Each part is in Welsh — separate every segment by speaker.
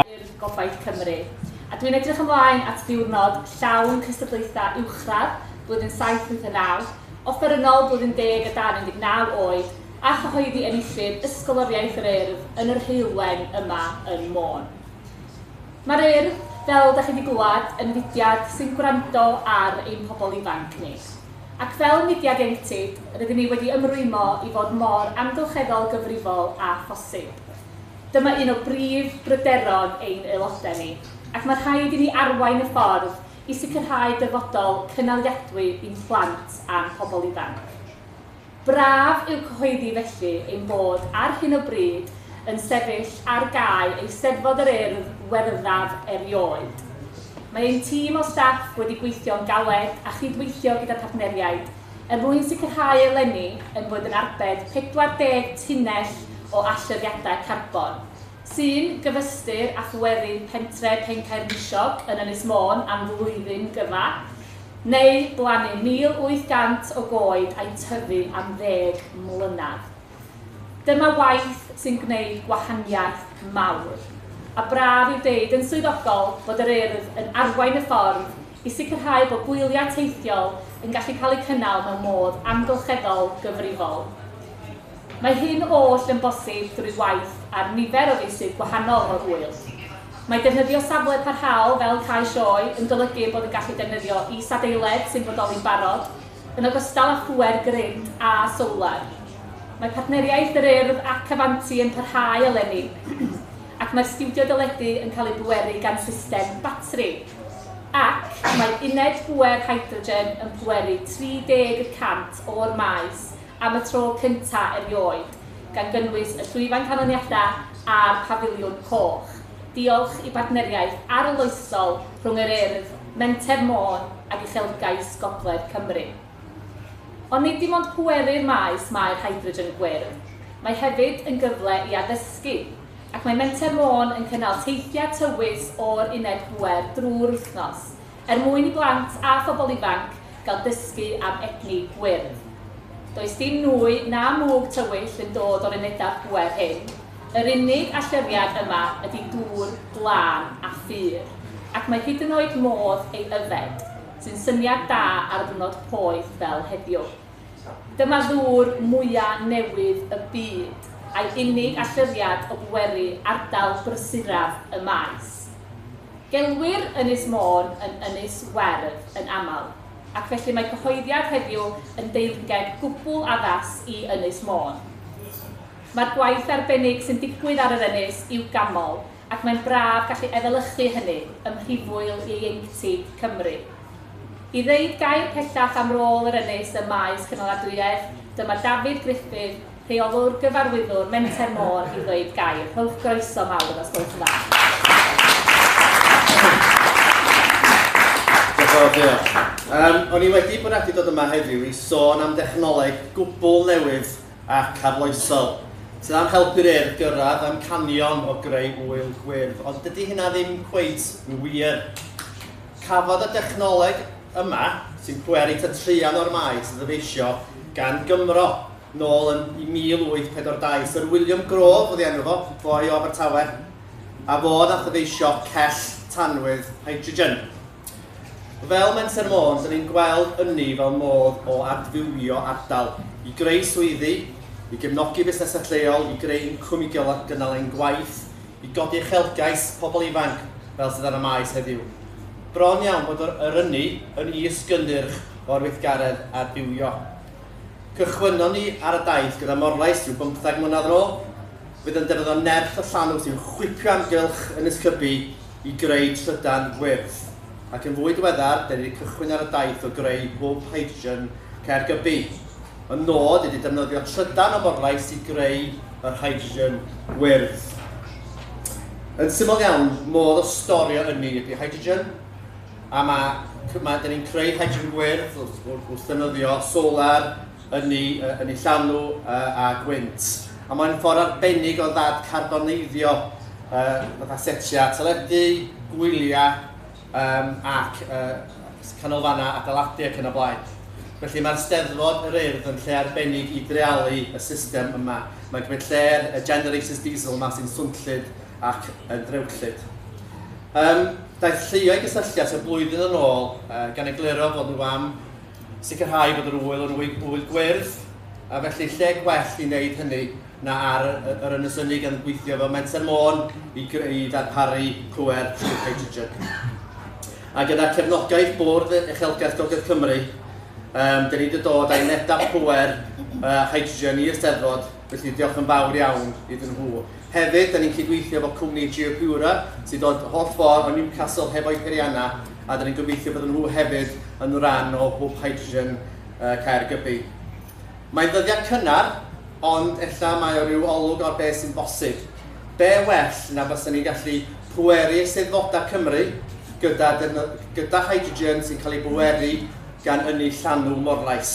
Speaker 1: i'r Gobaith
Speaker 2: Cymru, a dwi'n edrych ymlaen at ddiwrnod llawn cystadlaethau uwchradd blwyddyn 79, offerynnol blwyddyn deg a dan 19 oed, a chyhoeddi enillydd Ysgoloriaeth yr Urdd yn yr Heulwen yma yn Môn. Mae'r Urdd, fel da chi wedi glywed, yn fudiad sy'n gwrando ar ein pobl ifanc ni. Ac fel mudiad ieuenctid, rydyn ni wedi ymrwymo i fod mor amgylcheddol gyfrifol â phosib. Dyma un o brif bryderon ein Aelodau ni, ac mae rhaid i ni arwain y ffordd i sicrhau dyfodol cynaliadwy i'n plant a'n pobl ifanc. Braf yw cyhoeddi felly ein bod ar hyn o bryd yn sefyll ar gae Eisteddfod yr Urdd Werddaf erioed. Mae ein tîm o staff wedi gweithio'n galed a chyd-weithio gyda partneriaid er mwyn sicrhau eleni ein bod yn arbed 40 tunnell o allyriadau carbon, sy'n gyfystyr â phwerau pentre Pencaernisiog yn Ynys Môn am flwyddyn gyfa, neu blannu 1,800 o goed a'u tyfu am ddeg mlynedd. Dyma waith sy'n gwneud gwahaniaeth mawr. A braf yw deud yn swyddogol bod yr Urdd yn arwain y ffordd, i sicrhau bod gwyliau teithiol yn gallu cael eu cynnal mewn modd amgylcheddol gyfrifol. Mae hyn oll yn bosib drwy waith ar nifer o feysydd gwahanol o'r ŵyl. Mae defnyddio safle parhaol fel cae sioe yn golygu bod yn gallu defnyddio is-adeiledd sy'n bodoli'n barod, yn ogystal â phŵer gryn a sowlar. Mae partneriaeth yr Urdd ac Avanti yn parhau eleni. ac mae'r stiwdio deledu yn cael ei bweru gan system batri. Ac mae uned bŵer hydrogen yn pweru 30 y cant o'r maes am y tro cyntaf erioed, gan gynnwys y llwyfan canlyniadau a'r Pafiliwn Coch, diolch i bartneriaeth arloesol rhwng yr Urdd, Menter Môn ac Uchelgais Gogledd Cymru. Ond nid dim ond pwerur maes mae'r hydrogen gwyrdd, mae hefyd yn gyfle i addysgu, ac mae Menter Môn yn cynnal teithiau tywys o'r uned bŵer drwy'r wythnos, er mwyn i blant a phobl ifanc gael dysgu am egni gwyrdd. Does dim nwy na mwg tywyll yn dod o'r unedau pŵer hyn, yr unig allyriad yma ydy dŵr glân a phur, ac mae hyd yn oed modd ei yfed. sy'n syniad da ar ddwrnod poeth fel heddiw. Dyma ddŵr mwya newydd y byd, a'i unig allyriad o bweru ardal brysuraf y maes. Gelwir Ynys Môn yn Ynys Werdd yn aml, ac felly mae cyhoeddiad heddiw yn deyrnged gwbl addas i Ynys Môn. Mae'r gwaith arbennig sy'n digwydd ar yr ynys i'w ganmol, ac mae'n braf gallu efelychu hynny ym mhrifwyl ieuenctid Cymru. I ddeud gair pellach am rôl yr Ynys ym maes cynaladwyedd, dyma Dafydd Gruffydd, Rheolwr, Gyfarwyddwr, Menter Môr, i ddweud gair. Rhowch groeso mawr os gwelwch yn dda.
Speaker 3: Um, o'n i wedi bwriadu dod yma heddiw i sôn am dechnoleg gwbl newydd ac arloesol, sydd am helpu'r Urdd gyrraedd amcanion o greu ŵyl gwyrdd, ond dydy hynna ddim cweit yn wir. Cafodd y dechnoleg yma, sy'n pweru tua traean o'r maes a ddyfeisio gan Gymro nôl yn 1842, Sir William Grove oedd ei enw fo, boi o Abertawe, a fo ddath ddyfeisio cell tanwydd hydrogen. Fel Menter Môn, dyn ni'n gweld ynni fel modd o adfywio ardal, i greu swyddi, i gefnogi busnesau lleol, i greu incwm i gynnal ein gwaith, i godi uchelgais pobl ifanc, fel sydd ar y Maes heddiw. Bron iawn bod yr ynni yn is-gynnyrch o'r weithgaredd adfywio. Cychwynnon ni ar y daith gyda Morlais rhyw bymtheg mlynedd yn ôl, fydd yn defnyddio nerth y llanw sy'n chwipio amgylch Ynys Cybi, i greu trydan gwyrdd, ac yn fwy diweddar, dyn ni wedi cychwyn ar y daith o greu hwb hydrogen Caergybi. Y nod ydy defnyddio trydan o morlais i greu yr hydrogen gwyrdd. Yn syml iawn, modd o storio ynni ydy hydrogen, a mae, mae, dyn ni'n creu hydrogen gwyrdd wrth, wrth, wrth ddefnyddio solar, yn ei yn ei llanw a gwynt, a mae'n ffordd arbennig o ddad-carboneiddio fatha setiau teledu, gwyliau yym ac yy canolfannau adeiladu ac yn y blaen. Felly mae'r Steddfod yr Urdd yn lle arbennig i dreialu y system yma. Mae'n cymryd lle'r generators diesel yma sy'n swnllyd ac yn ddrewllyd. Yym, daeth lluoedd gysylltiad tua blwyddyn yn ôl gan egluro fod nhw am Sicrhau bod yr ŵyl yn ŵyl gwyrdd, a felly lle gwell i wneud hynny na ar yr Ynys Ynni gan gweithio fel Menter Môn i, i ddarparu pŵer trwy hydrogen. A gyda cefnogaeth Bwrdd Uchelgais Gogledd Cymru, um, dyn ni wedi dod â unedau pŵer uh, hydrogen i'r Steddfod Felly, diolch yn fawr iawn iddyn nhw. Hefyd, da ni'n cydweithio efo cwmni Geopura, sy'n dod holl ffordd o Newcastle hefo'i pheriannau, a da ni'n gobeithio bod nhw hefyd yn rhan o Hwb Hydrogen uh, Caergybi. Mae'n ddyddiad cynnar, ond ella mae o ryw olwg o'r beth sy'n bosib. Be well na bysyn ni'n gallu pweru eisteddfodau Cymru gyda, gyda hydrogen sy'n cael ei bweru gan ynni llanw morlais.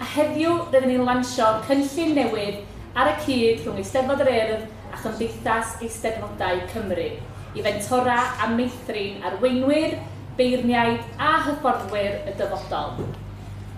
Speaker 2: A heddiw, rydyn ni'n lansio cynllun newydd ar y cyd rhwng Eisteddfod yr Urdd a Chymdeithas Eisteddfodau Cymru, i fentora a meithrin arweinwyr, beirniaid a hyfforddwyr y dyfodol.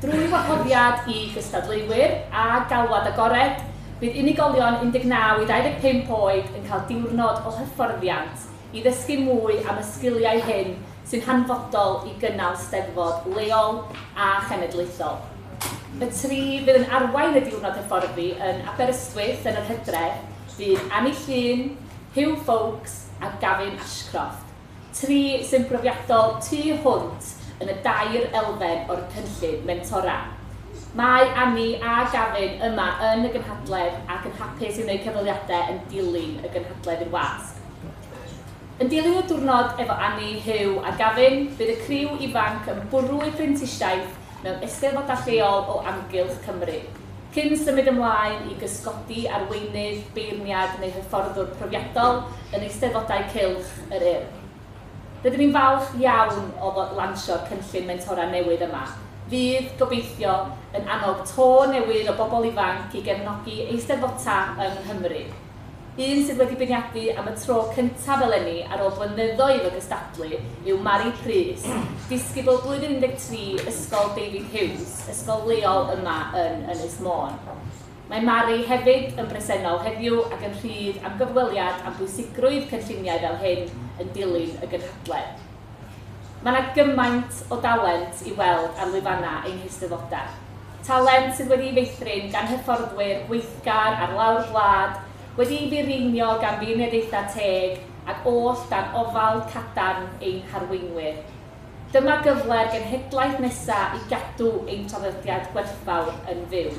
Speaker 2: Drwy wahoddiad i gystadleuwyr a galwad agored, bydd unigolion 19 i 25 oed yn cael diwrnod o hyfforddiant i ddysgu mwy am y sgiliau hyn sy'n hanfodol i gynnal Steddfod leol a chenedlaethol. Y tri fydd yn arwain y diwrnod hyfforddi yn Aberystwyth yn yr hydref fydd Annie Llŷn, Huw Foulkes a Gavin Ashcroft, tri sy'n brofiadol tu hwnt yn y dair elfen o'r cynllun mentora. Mae Annie a Gavin yma yn y gynhadledd ac yn hapus i wneud cyfweliadau yn dilyn y gynhadledd i'r wasg. Yn dilyn y diwrnod efo Anni, Huw a Gavin, bydd y criw ifanc yn bwrw eu prentisiaeth mewn eisteddfodau lleol o amgylch Cymru, cyn symud ymlaen i gysgodi arweinydd, beirniad neu hyfforddwr profiadol yn Eisteddfodau Cylch yr Urdd. Rydyn ni'n falch iawn o lansio'r cynllun mentora newydd yma, fydd, gobeithio, yn annog to newydd o bobl ifanc i gefnogi eisteddfota yng Nghymru. Un sydd wedi beirniadu am y tro cyntaf eleni ar ôl blynyddoedd o gystadlu yw Mari Prys, disgybl blwyddyn 13 Ysgol David Hughes, ysgol leol yma yn Ynys Môn. Mae Mari hefyd yn bresennol heddiw ac yn rhydd am gyfweliad am bwysigrwydd cynlluniau fel hyn yn dilyn y gynhadledd. Mae 'na gymaint o dalent i'w weld ar lwyfannau ein heisteddodau. Talent sydd wedi'i feithrin gan hyfforddwyr gweithgar ar lawr gwlad, wedi'i fireinio gan feirniadaethau teg ac oll dan ofal cadarn ein harweinwyr. Dyma gyfle'r genhedlaeth nesaf i gadw ein traddodiad gwerthfawr yn fyw.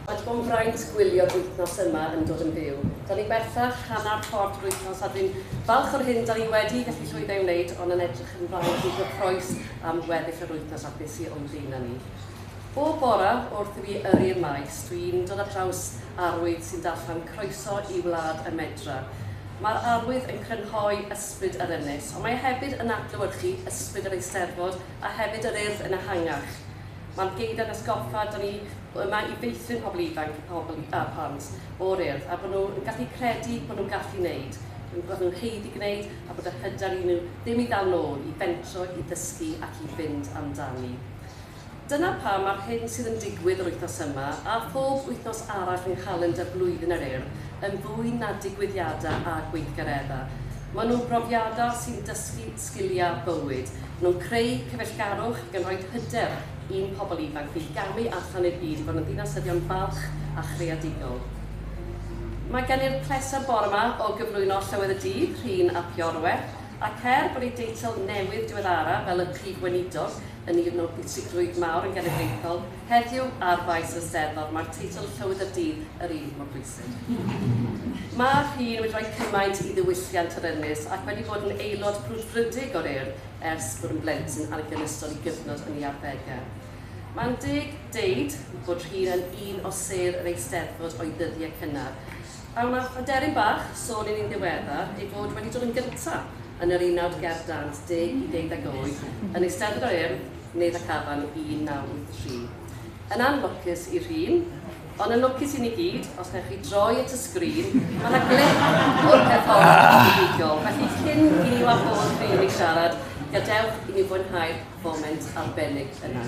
Speaker 2: Mae dim ond braint
Speaker 4: gwylio'r wythnos yma yn dod yn fyw. Da ni bellach hanner ffordd drwy'r wythnos a dwi'n falch o'r hyn da ni wedi gallu llwyddo i'w wneud ond yn edrych ymlaen i gyffroes am weddill yr wythnos a be sy' o'm blaenau ni. Bob bore wrth i fi yrru'r maes, dwi'n dod ar draws arwydd sy'n darllen Croeso i Wlad y Medre. Mae'r arwydd yn crynhoi ysbryd yr ynys, ond mae e hefyd yn adlewyrchu ysbryd yr Eisteddfod a hefyd yr Urdd yn ehangach. Mae'r geiriau yn atgoffa, da ni yma i feithrin pobl ifanc a pobl a phlant o'r Urdd a bod nhw yn gallu credu bod nhw'n gallu gwneud, bod nhw'n haeddu gwneud a bod yr hyder i nhw ddim i ddal nôl, i fentro, i ddysgu ac i fynd amdani. Dyna pam mae'r hyn sydd yn digwydd yr wythnos yma, a phob wythnos arall yng nghalendr blwyddyn yr Urdd, yn fwy na digwyddiadau a gweithgareddau. Maen nhw'n brofiadau sy'n dysgu sgiliau bywyd, maen nhw'n creu cyfeillgarwch ac yn rhoid hyder i'n pobl ifanc ni gamu allan i'r byd i fod yn ddinasyddion balch a chreadigol. Mae gen i'r pleser bore yma o gyflwyno Llywydd y Dydd, Rhun ap Iorwerth, ac er bod ei deitl newydd diweddara fel y Prif Weinidog, Yn un o bwysigrwydd mawr yn genedlaethol heddiw ar faes y Steddfod, mae'r teitl 'Llywydd y Dydd' yr un mor bwysig. Mae'r rhîn wedi rhoi cymaint i ddiwylliant yr ynys ac wedi bod yn aelod brwdfrydig o'r Urdd ers bod yn blentyn ac yn ystod ei gyfnod yn ei arddegau. Mae'n deg deud bod rhîn yn un o sêr yr Eisteddfod o'i ddyddiau cynnar. A wnaeth aderyn bach sôn i ni'n ddiweddar ei fod wedi dod yn gyntaf yn yr unawd ger dant deg i ddeuddeg oed yn Eisteddfod yr Urdd, Neuadd ac Afan 1983. Yn anlwcus i'r rhun, ond yn lwcus i ni gyd, os wnewch chi droi at y sgrin, mae yna glip o'r perfformiad buddugol, felly cyn i ni wahodd rhun i siarad, gadewch i ni fwynhau'r foment arbennig yna.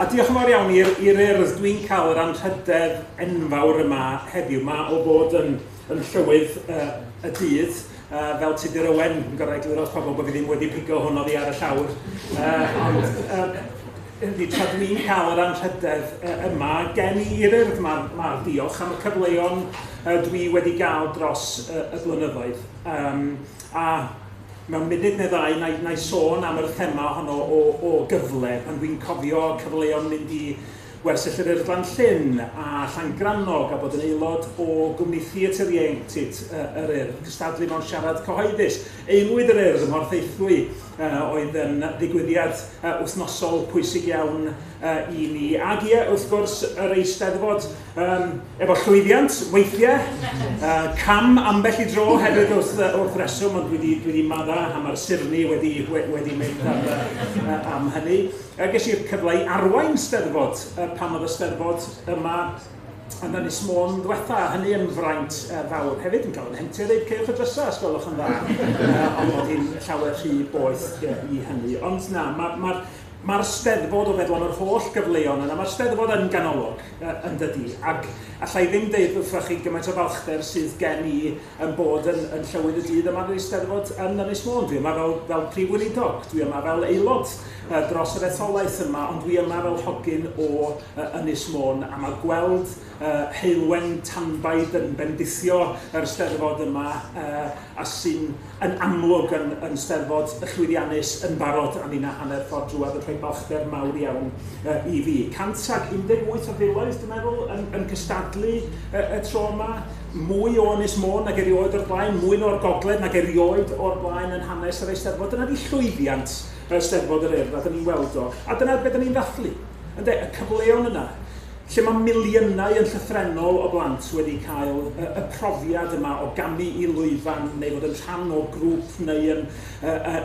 Speaker 5: A diolch yn fawr iawn i'r i'r Urdd, dwi'n cael yr anrhydedd enfawr yma heddiw 'ma o fod yn yn Llywydd yy y dydd yy fel Tudur Owen, yn gorau egluro wrth pobl bod fi ddim wedi pigo hwn oddi ar y llawr yy ond yy yndi tra dwi'n cael yr anrhydedd yy yma gen i i'r Urdd 'ma 'ma diolch am y cyfleon yy dwi wedi gael dros yy y blynyddoedd yym. A, mewn munud neu ddau, na i, na i sôn am yr thema honno o, o gyfle, pan dwi'n cofio cyfleon mynd i Wersyll yr Urddlan Llyn a Llangrannog a bod yn aelod o gwmni Theatr Ieuenctid uh, yr Urdd, cystadlu mewn siarad cyhoeddus. Aelwyd yr Urdd ym Mhorthaethwy uh, oedd yn ddigwyddiad uh, wythnosol pwysig iawn uh, i ni. Ac ie, wrth gwrs, yr Eisteddfod Um, efo llwyddiant, weithiau, uh, cam ambell i dro hefyd wrth, uh, wrth reswm, ond dwi wedi, dwi wedi madda a mae'r sirni wedi, wedi mynd am, uh, am hynny. Uh, ges i'r cyfle i arwain steddfod uh, pan oedd y steddfod yma yn y nis môn ddwetha, hynny yn fraint uh, fawr. Hefyd yn cael yn hentio dweud ceirwch y drysau, os gwelwch yn dda, uh, ond bod hi'n llawer rhy boeth uh, i hynny. Ond na, mae'r ma, ma, ma Steddfod o feddwl am yr holl gyfleon yna, mae'r Steddfod yn ganolog yn dydi? Ac alla i ddim deud wrthoch chi gymaint o falchder sydd gen i yn bod yn, yn Llywydd y Dydd yma yn yr Eisteddfod yn Ynys Môn. Dwi yma fel, fel Prif Weinidog, dwi yma fel aelod uh, dros yr etholaeth yma, ond dwi yma fel hogyn o uh, Ynys Môn, a mae gweld uh, heulwen tanbaid yn bendithio yr Eisteddfod yma uh, a sy'n yn amlwg yn yn Steddfod llwyddiannus yn barod a ninna hanner ffordd drwodd yn rhoi balchder mawr iawn yy i fi. 118 o filoedd dwi'n meddwl yn yn cystadlu y y tro yma, mwy o Ynys Môn nag erioed o'r blaen, mwy na o'r gogledd nag erioed o'r blaen yn hanes yr Eisteddfod. Dyna ydi llwyddiant yy Steddfod yr Urdd a 'dan ni'n weld o a dyna be' 'dan ni'n ddathlu ynde, y cyfleon yna. lle mae miliynau yn llythrennol o blant wedi cael y profiad yma o gamu i lwyfan neu fod yn rhan o grŵp neu yn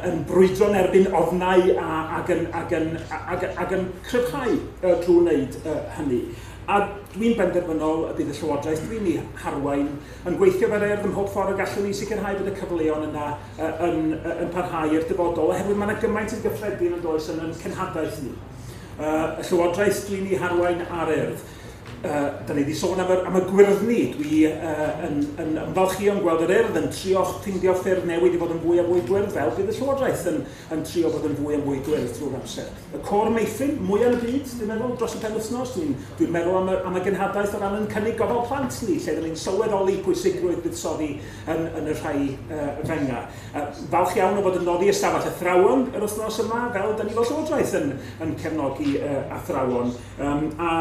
Speaker 5: yn brwydro yn erbyn ofnau a ac yn ac yn ac ac yn cryfhau drwy wneud hynny. A dwi'n benderfynol y bydd y Llywodraeth dwi'n ei harwain yn gweithio fel Urdd ym mhob ffordd y gallwn i sicrhau bod y cyfleon yna yn yn parhau i'r dyfodol oherwydd mae yna gymaint yn gyffredin yn does yn ein cenhadaeth ni. y Llywodraeth, dwi'n ei harwain ar urdd. Uh, da ni wedi sôn am y, am y gwyrddni. Dwi uh, yn, yn ymfalchio'n gweld yr urdd yn trio ffeindio ffyrdd newid i fod yn fwy a fwy gwyrdd, fel bydd y Llywodraeth yn, yn trio bod yn fwy a fwy gwyrdd drwy'r amser. Y cor meithrin mwyaf yn y byd, dwi'n meddwl, dros y penwythnos, dwi'n dwi meddwl am y, am y genhadaeth o ran yn cynnig gofal plant ni, lle dyn ni'n sylweddoli pwysigrwydd buddsoddi yn, yn y rhai uh, fenga. Falch iawn o fod yn noddi ystafell athrawon yr wythnos yma, fel da ni fel Llywodraeth yn, yn cefnogi uh, athrawon, um, a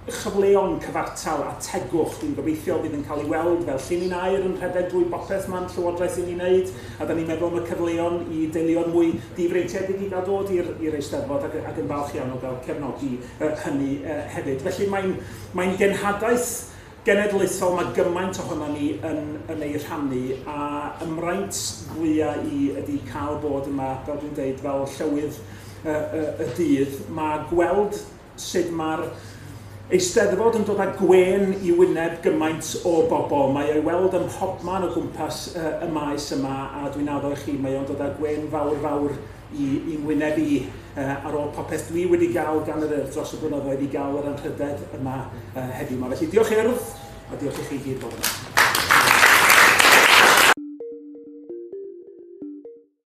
Speaker 5: chyfleon cyfartal a tegwch. Dwi'n gobeithio bydd yn cael ei weld fel llinyn air yn rhedeg drwy bopeth mae'n Llywodraeth yn ei wneud, a da ni'n meddwl am y cyfleon i deuluoedd mwy difreintiedig i gael dod i'r Eisteddfod ac, ac yn falch iawn o gael cefnogi uh, hynny uh, hefyd. Felly mae'n mae genhadaeth Genedlaethol mae gymaint ohonon ni yn yn ei rhannu a y mraint fwya i ydi cael bod yma fel dwi'n deud fel llywydd y y y dydd mae gweld sud mae'r Eisteddfod yn dod a gwên i wyneb gymaint o bobl mae o'i weld ym mhobman o gwmpas y y maes yma a dwi'n addo i chi mae o'n dod a gwên fawr fawr i i ngwyneb i yy ar ôl popeth dwi wedi ga'l gan yr Urdd dros y blynyddoedd i ga'l yr anrhydedd yma yy heddiw 'ma. Felly diolch Urdd a diolch i chi i gyd fod yma.